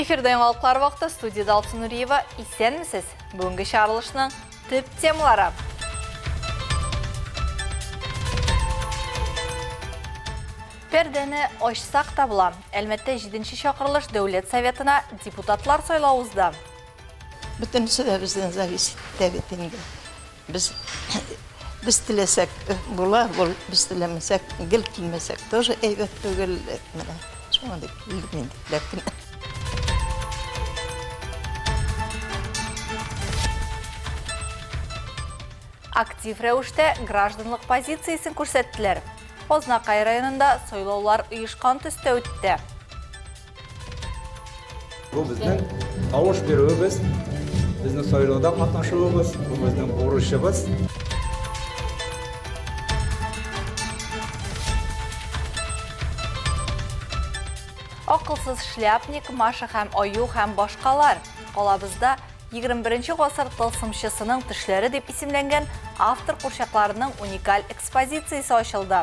Эфирда яңалыклар вакыты студияда Алсу Нуриева. Исәнмесез. Бүгенге чарылышның төп темалары. Пәрдәне ачсак та була. Әлмәттә 7 чакырылыш дәүләт советына депутатлар сайлау узды. Бүтәнсе дә бездән зависит итә бит инде. Без без теләсәк була, бул, без теләмәсәк, гел килмәсәк, тоже әйбәт түгел. Менә шуңа дип килдек мин дип кенә. Актив рәвештә гражданлык позициясен күрсәттеләр. Азнакай районында сайлаулар оешкан төстә үтте. Бу безнең тавыш бирүебез, безнең сайлауда катнашуыбыз, бу безнең бурычыбыз. Акылсыз шляпник, Маша һәм Аю һәм башкалар. Калабызда 21 гасыр тылсымчысының төшләре дип исемләнгән автор курчакларының уникаль экспозициясе ачылды.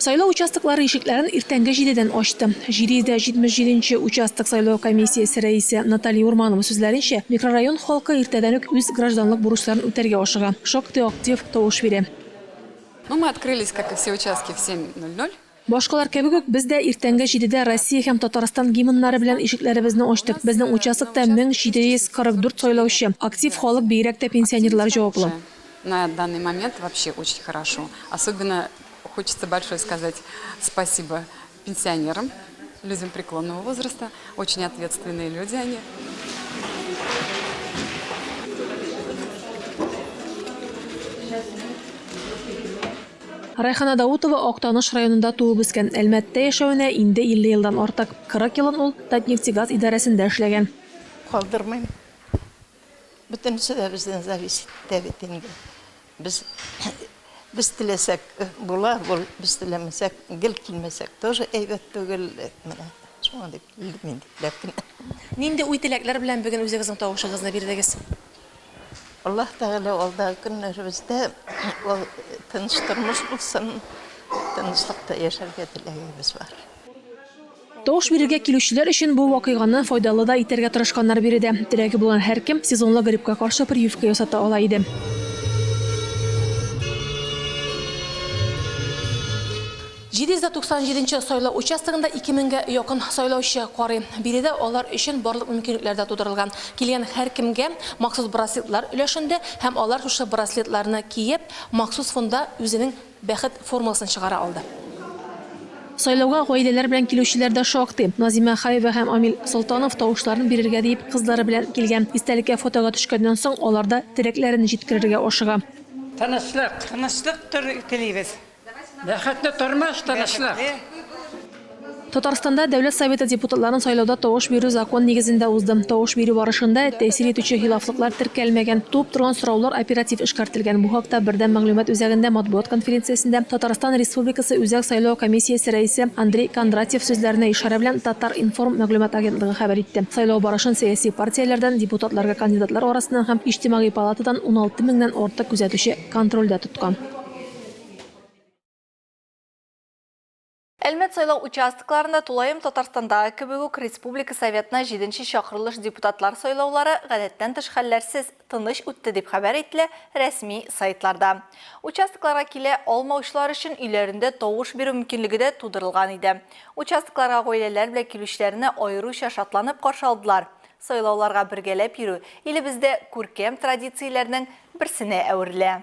Сайлау участоклары ишекләрен иртәнге җидедән ачты. 777 нче участок сайлау комиссиясе рәисе Наталья Урманова сүзләренчә, микрорайон халкы иртәдән үк үз гражданлык бурычларын үтәргә ашыга, шактый актив тавыш бирә. Ну, мы открылись, как и все участки, в 7.00. Башкалар кебек үк, без дә иртәнге җидедә Россия һәм Татарстан гимннары белән ишекләребезне ачтык. Безнең участокта 1744 сайлаучы, актив халык, бигрәк тә пенсионерлар җаваплы. На данный момент вообще очень хорошо. Особенно хочется большое сказать спасибо пенсионерам, людям преклонного возраста. Очень ответственные люди они. Райхана Даутова Актаныш районында туып-үскән, Әлмәттә яшәвенә инде 50 елдан артык. 40 елын ул Татнефтегаз идарәсендә эшләгән. Калдырмыйм. Бөтенесе дә бездән зависит итә бит инде. Без без теләсәк була, без теләмәсәк, гел килмәсәк тоже әйбәт түгел. Менә шуңа дип килдем инде, ләкин. Нинди уй-теләкләр белән бүген үзегезнең тавышыгызны бирдегез? Аллаһ Тәгалә алдагы көннәребездә ул тыныч тормыш булсын, тынычлыкта яшәргә теләгебез бар. Тавыш бирергә килүчеләр өчен бу вакыйганы файдалы да итәргә тырышканнар биредә. Теләге булган һәркем сезонлы гриппка каршы прививка ясата ала иде. 797 нче сайлау участогында 2000 гә якын сайлаучы карый. Биредә алар өчен барлык мөмкинлекләр дә тудырылган. Килгән һәркемгә махсус браслетлар өләшенде һәм алар шушы браслетларны киеп, махсус фонда үзенең Бәхет формуласын чыгара алды. Сайлауга гаиләләр белән килүчеләр дә шактый. Назимә Хаева һәм Амил Солтанов тавышларын бирергә диеп кызлары белән килгән. Истәлеккә фотога төшкәннән соң алар да теләкләрен җиткерергә ашыга. Тынычлык! Тынычлык телибез! Бәхетле тормыш, тынычлык. Татарстанда Дәүләт Советы депутатларын сайлауда тавыш бирү закон нигезендә узды. Тавыш бирү барышында тәэсир итүче хилафлыклар теркәлмәгән. Туып торган сораулар оператив эшкәртелгән. Бу хакта Бердәм мәгълүмат үзәгендә матбугат конференциясендә Татарстан Республикасы Үзәк сайлау комиссиясе рәисе Андрей Кондратьев сүзләренә ишарә белән Татар-информ мәгълүмат агентлыгы хәбәр итте. Сайлау барышын сәяси партияләрдән, депутатларга кандидатлар арасыннан һәм Иҗтимагый палатадан уналты меңнән артык күзәтүче контрольдә тоткан. Әлмәт сайлау участокларында тулаем Татарстандагы кебек үк республика Советына җиденче чакырылыш депутатлар сайлаулары гадәттән тыш хәлләрсез, тыныч үтте, дип хәбәр ителә рәсми сайтларда. Участокларга килә алмаучылар өчен өйләрендә тавыш бирү мөмкинлеге дә тудырылган иде. Участокларга гаиләләр белән килүчеләрне аеруча шатланып каршы алдылар. Сайлауларга бергәләп йөрү илебездә күркәм традицияләрнең берсенә әверелә.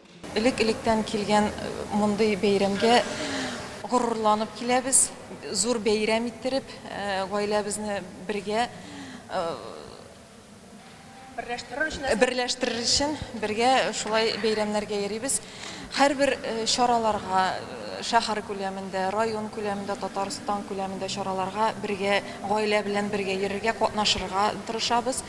Элек-электән килгән мондый бәйрәмгә горурланып киләбез. Зур бәйрәм иттереп, гаиләбезне бергә берләштерер өчен бергә шулай бәйрәмнәргә йөрибез. Һәрбер чараларга, шәһәр күләмендә, район күләмендә, Татарстан күләмендә чараларга бергә, гаилә белән бергә йөрергә, катнашырга тырышабыз.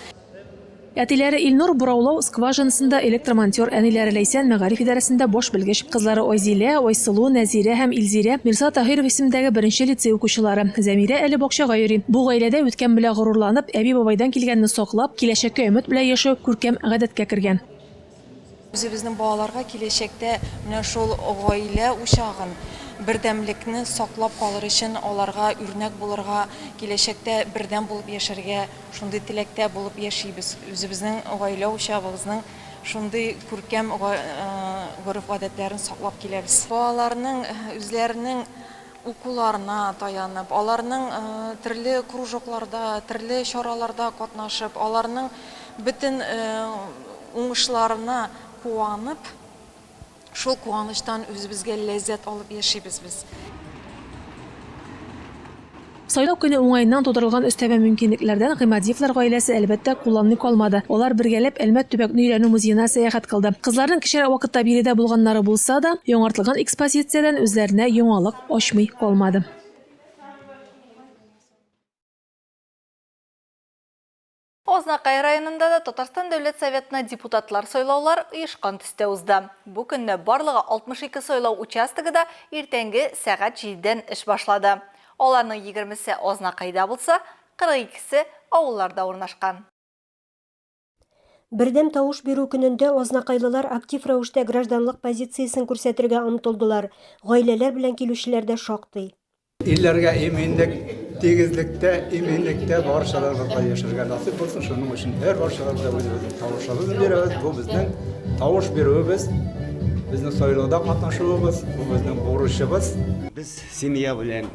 Әтиләре Илнур, бораулау скважинасында электромонтер, әниләре Ләйсән, мәгариф идарәсендә баш белгеч, кызлары Айзилә, Айсылу, Нәзирә һәм Илзирә, Мирса Таһиров исемендәге беренче лицей укучылары. Зәмирә әле бакчага йөри. Бу гаиләдә үткән белән горурланып, әби-бабайдан килгәнне саклап, киләчәккә өмет белән яшәү күркәм гадәткә кергән. Үзебезнең балаларга киләчәктә менә шул гаилә учагын, бердәмлекне саклап калыр өчен аларга үрнәк булырга, киләчәктә бердәм булып яшәргә, шундый теләктә булып яшибез. Үзебезнең гаилә учагыбызның шундый күркәм гореф-гадәтләрен саклап киләбез. Балаларның үзләренең укуларына таянып, аларның төрле кружокларда, төрле чараларда катнашып, аларның бөтен уңышларына куанып, шул куанычтан үзебезгә ләззәт алып яшибез без. Сайлау көне уңаеннан тудырылган өстәмә мөмкинлекләрдән Гыймадиевлар гаиләсе, әлбәттә, кулланмый калмады. Алар бергәләп Әлмәт төбәкне өйрәнү музеена сәяхәт кылды. Кызларның кечерәк вакытта биредә булганнары булса да, яңартылган экспозициядән үзләренә яңалык ачмый калмады. Азнакай районында да Татарстан Дәүләт Советына депутатлар сайлаулар оешкан төстә узды. Бу көнне барлыгы 62 сайлау участогы да иртәнге сәгать җидедән эш башлады. Аларның егермесе Азнакайда булса, 42 се авылларда урнашкан. Бердәм тавыш бирү көнендә азнакайлылар актив рәвештә гражданлык позициясен күрсәтергә омтылдылар, гаиләләр белән килүчеләр дә шактый. Илләргә иминлек, тигезлектә, иминлектә баршаларыбызга яшәргә насыйп булсын. Шуның өчен һәр баршаларда үзебезнең тавышыбызны бирәбез. Бу безнең тавыш бирүебез, безнең сайлауда катнашуыбыз, бу безнең бурычыбыз. Без семья белән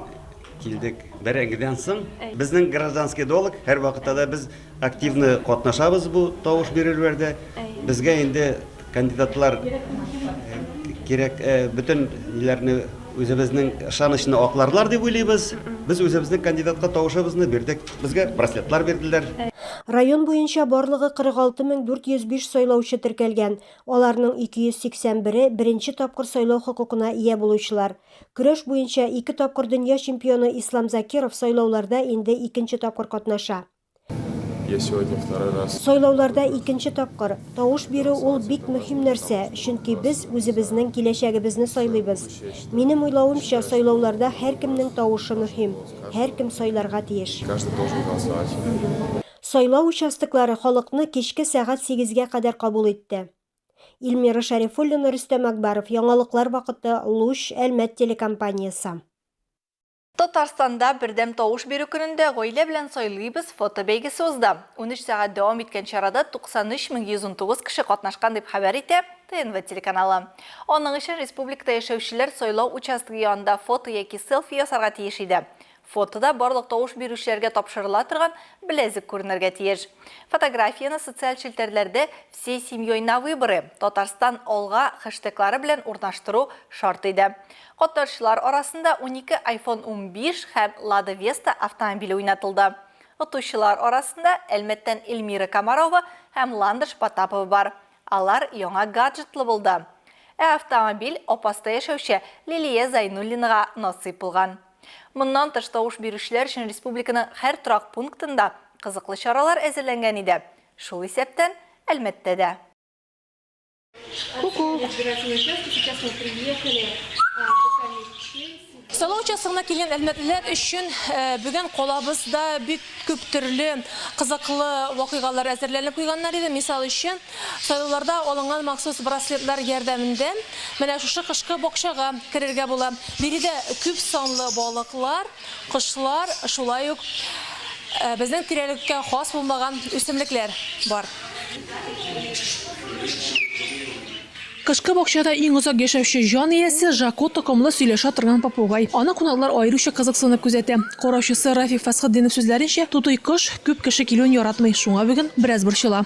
килдек. Бәрәңгедән соң безнең гражданский долг һәрвакытта да без Активны катнашабыз бу тавыш бирелүләрдә. Безгә инде кандидатлар кирәк, бөтен ниләрне үзебезнең ышанычны акларлар дип уйлыйбыз. Без үзебезнең кандидатка тавышыбызны бирдек. Безгә браслетлар бирделәр. Район буенча барлыгы 46 мең 405 сайлаучы теркәлгән, аларның 281-е, беренче тапкыр сайлау хокукына ия булучылар. Көрәш буенча ике тапкыр дөнья чемпионы Ислам Закиров сайлауларда инде икенче тапкыр катнаша. Я сегодня второй раз. Сайлауларда икенче тапкыр тавыш бирү ул бик мөһим нәрсә, чөнки без үзебезнең киләчәгебезне сайлыйбыз. Минем уйлавымча, сайлауларда һәркемнең тавышы мөһим, һәркем сайларга тиеш. Каждый должен голосовать. Сайлау участоклары халыкны кичке сәгать сигезгә кадәр кабул итте. Ильмира Шәрифуллина, Рөстәм Акбаров, яңалыклар вакыты, Луч, Әлмәт телекомпаниясе. Татарстанда бердәм тавыш бирү көнендә Гаилә белән сайлыйбыз фотобәйгесе узды. Унөч сәгать дәвам иткән чарада 93119 кеше катнашкан, дип хәбәр итә ТНВ телеканалы. Аның өчен республикада яшәүчеләр сайлау участогы янында фото яки селфи ясарга тиеш иде. Фотода барлык тавыш бирүчеләргә тапшырыла торган беләзек күренергә тиеш. Фотографияне социаль челтәрләрдә Всей семьей на выборы, Татарстан алга хэштеглары белән урнаштыру шарт иде. Котлаучылар арасында унике айфон унбиш һәм Лада Веста автомобиле уйнатылды. Отучылар арасында Әлмәттән Эльмира Комарова һәм Ландыш Потапова бар. Алар яңа гаджетлы булды. Ә автомобиль Апаста яшәүче Лилия Зайнуллинага насыйп булган. Моннан тыш тавыш бирүчеләр өчен республиканың һәр торак пунктында кызыклы чаралар әзерләнгән иде, шул исәптән Әлмәттә дә. Сайлау участогына килгән әлмәтлеләр өчен э, бүген калабызда бик күп төрле кызыклы вакыйгалар әзерләнеп куйганнар иде. Мисал өчен, сайлауларда алынган махсус браслетлар ярдәмендә менә шушы кышкы бакчага керергә була. Биредә күп санлы балыклар, Кошлар, шулай ук безнең тирәлеккә хас булмаган үсемлекләр бар. Кышкы бакчада иң озак яшәүче җан иясе, Жако токымлы сөйләшә торган попугай. Аны кунаклар аеруча кызыксынып күзәтә. Караучысы Рафик Фәсхетдинов сүзләренчә, тутый кош күп кеше килүен яратмый, шуңа бүген бераз борчыла.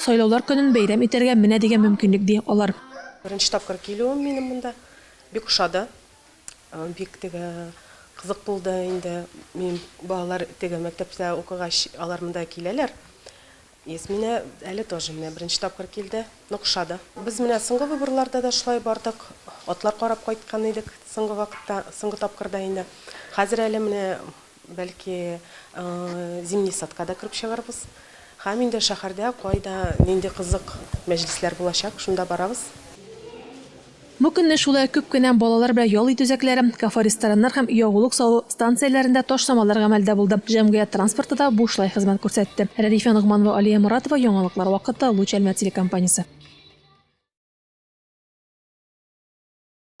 Сайлаулар көнен бәйрәм итәргә менә дигән мөмкинлек, ди алар. Беренче тапкыр килүем минем монда. Бик ошады. Бик теге кызык булды инде. Минем балалар теге мәктәптә укыгач, алар монда киләләр. Ясминә әле тоже менә беренче тапкыр килде. Нык ошады. Без менә соңгы выборларда да шулай бардык. Атлар карап кайткан идек соңгы вакытта, соңгы тапкырда инде. Хәзер әле менә Бәлки, зимний садка да кереп чыгарбыз. Һәм инде шәһәрдә кайда нинди кызык мәҗлесләр булачак, шунда барабыз. Бу көнне шулай ук күп кенә балалар белән ял итү үзәкләре, кафе-рестораннар һәм ягулык салу станцияләрендә ташламалар гамәлдә булды, җәмгыять транспорты да бушлай хезмәт күрсәтте. Рәдифә Ногманова, Алия Моратова, яңалыклар вакыты, Луч Әлмәт телекомпаниясе.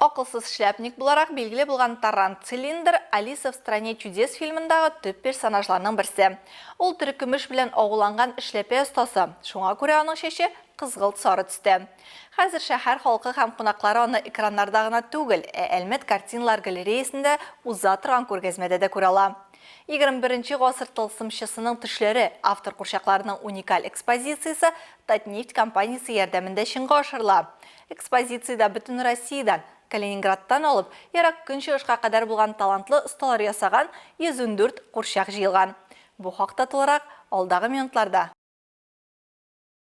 Акылсыз шляпник буларак билгеле булган Таран Цилиндр Алиса в стране чудес фильмындагы төп персонажларның берсе. Ул терекөмеш белән агуланган эшләпә остасы, шуңа күрә аның чәче кызгылт-сары төстә. Хәзер шәһәр халкы һәм кунаклары аны экраннарда гына түгел, ә Әлмәт картиналар галереясендә уза торган күргәзмәдә дә күрә ала. Егерме беренче гасыр тылсымчысының төшләре автор курчакларының уникаль экспозициясе Татнефть компаниясе ярдәмендә чынга ашырыла. Экспозициядә Бөтенроссиядән, Калининградтан алып, Ерак Көнчыгышка кадәр булган талантлы осталар ясаган 114 курчак җыелган. Бу хакта тулырак, алдагы минутларда.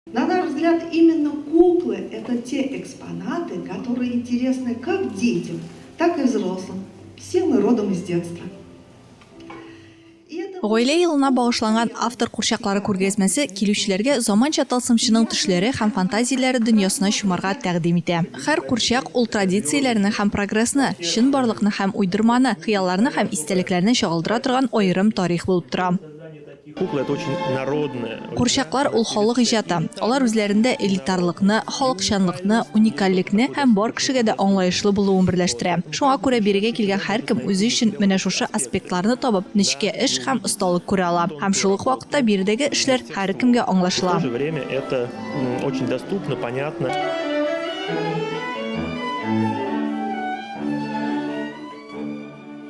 На наш взгляд, именно куклы это те экспонаты, которые интересны как детям, так и взрослым, все мы родом из детства. Гаилә елына багышланган автор курчаклары күргәзмәсе килүчеләргә заманча тылсымчының төшләре һәм фантазияләре дөньясына чумарга тәкъдим итә. Һәр курчак ул традицияләрне һәм прогрессны, чынбарлыкны һәм уйдырманы, хыялларны һәм истәлекләрне чагылдыра торган аерым тарих булып тора. Курчаклар ул халык иҗаты. Алар үзләрендә элитарлыкны, халыкчанлыкны, уникальлекне һәм бар кешегә дә аңлаешлы булуын берләштерә. Шуңа күрә бирегә килгән һәркем үзе өчен менә шушы аспектларны табып, нечкә эш һәм осталык күрә ала. Һәм шул ук вакытта биредәге эшләр һәркемгә аңлашыла.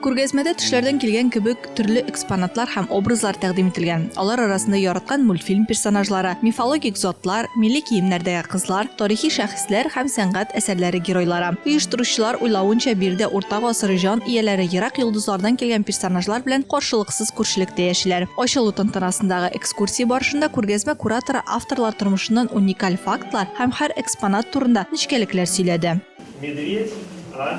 Күргәзмәдә төшләрдән килгән кебек төрле экспонатлар һәм образлар тәкъдим ителгән. Алар арасында яраткан мультфильм персонажлары, мифологик затлар, милли киемнәрдәге кызлар, тарихи шәхесләр һәм сәнгать әсәрләре геройлары. Оештыручылар уйлавынча, биредә урта гасыр җан ияләре ерак йолдызлардан килгән персонажлар белән каршылыксыз күршелектә яшиләр. Ачылу тантанасындагы экскурсия барышында күргәзмә кураторы авторлар тормышыннан уникаль фактлар һәм һәр экспонат турында нечкәлекләр сөйләде. Медведь, а?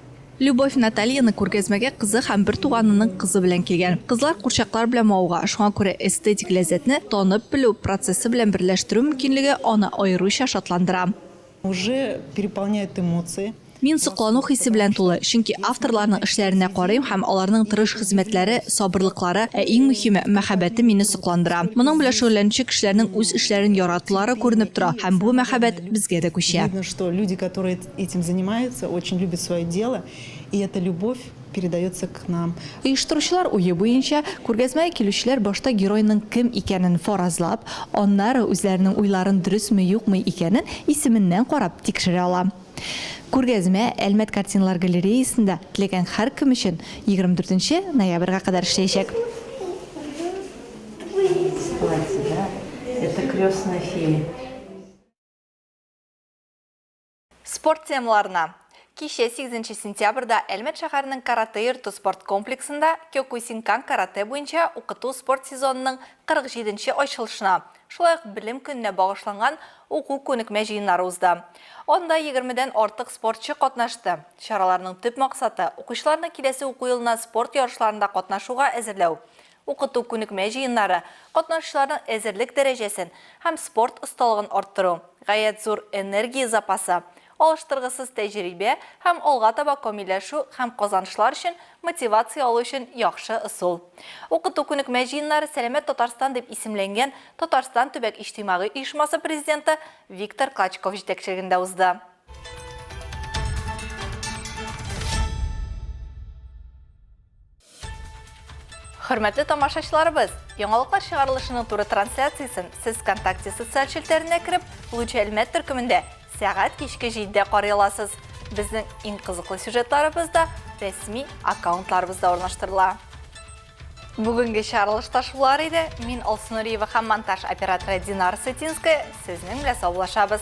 Любовь Натальяның күргәзмәгә кызы һәм бер туганының кызы белән килгән. Кызлар курчаклар белән мавыга, шуңа күрә эстетик ләззәтне танып белү процессы белән берләштерү мөмкинлеге аны аеруча шатландыра. Уже переполняют эмоции. Мин соклану хисе белән тулы, чөнки авторларның эшләренә карыйм һәм аларның тырыш хезмәтләре, сабырлыклары, ә иң мөһиме, мәхәббәте мине сокландыра. Моның белән шөгыльләнүче кешеләрнең үз эшләрен яратулары күренеп тора һәм бу мәхәббәт безгә дә күчә. Видно, что люди, которые Этим занимается, очень любит свое дело, и эта любовь передается к нам. Оештыручылар уе буенча, күргәзмәгә килүчеләр башта геройның кем икәнен фаразлап, аннары үзләренең уйларын дөресме-юкмы икәнен исеменнән карап тикшерә ала. Күргәзмә Әлмәт картиналар галереясында теләгән һәркем өчен егерме дүртенче ноябрьгә кадәр эшләячәк. Платье, да? Это крестные феи. Спорт темаларына. Кичә 8 сентябрьдә Әлмәт шәһәренең каратэ йорты спорт комплексында Кёкусинкан каратэ буенча укыту-спорт сезонының 47 нче ачылышына, шулай ук Белем көненә багышланган уку-күнекмә җыеннары узды. Анда 20 дән артык спортчы катнашты. Чараларның төп максаты, укучыларны киләсе уку елына спорт ярышларында катнашуга әзерләү, укыту күнекмә җыеннары, катнашучыларның әзерлек дәрәҗәсен һәм спорт осталыгын арттыру, гаять зур энергия запасы, алыштыргысыз тәҗрибә һәм алга таба камилләшү һәм казанышлар өчен мотивация алу өчен яхшы ысул. Укыту күнекмә җыеннары Сәламәт Татарстан дип исемләнгән Татарстан төбәк иҗтимагый оешмасы президенты Виктор Клочков җитәкчелегендә узды. Хөрмәтле тамашачыларыбыз, яңалыклар чыгарылышының туры трансляциясен сез ВКонтакте социаль челтәренә кереп, Луч Әлмәт төркемендә сәгать кичке 7-дә карый аласыз. Безнең иң кызыклы сюжетларыбыз да рәсми аккаунтларыбызда урнаштырыла. Бүгенге чарылышта шулар иде. Мин Алсу Нуриева һәм монтаж операторы Динар Сытинская сезнең белән саубуллашабыз.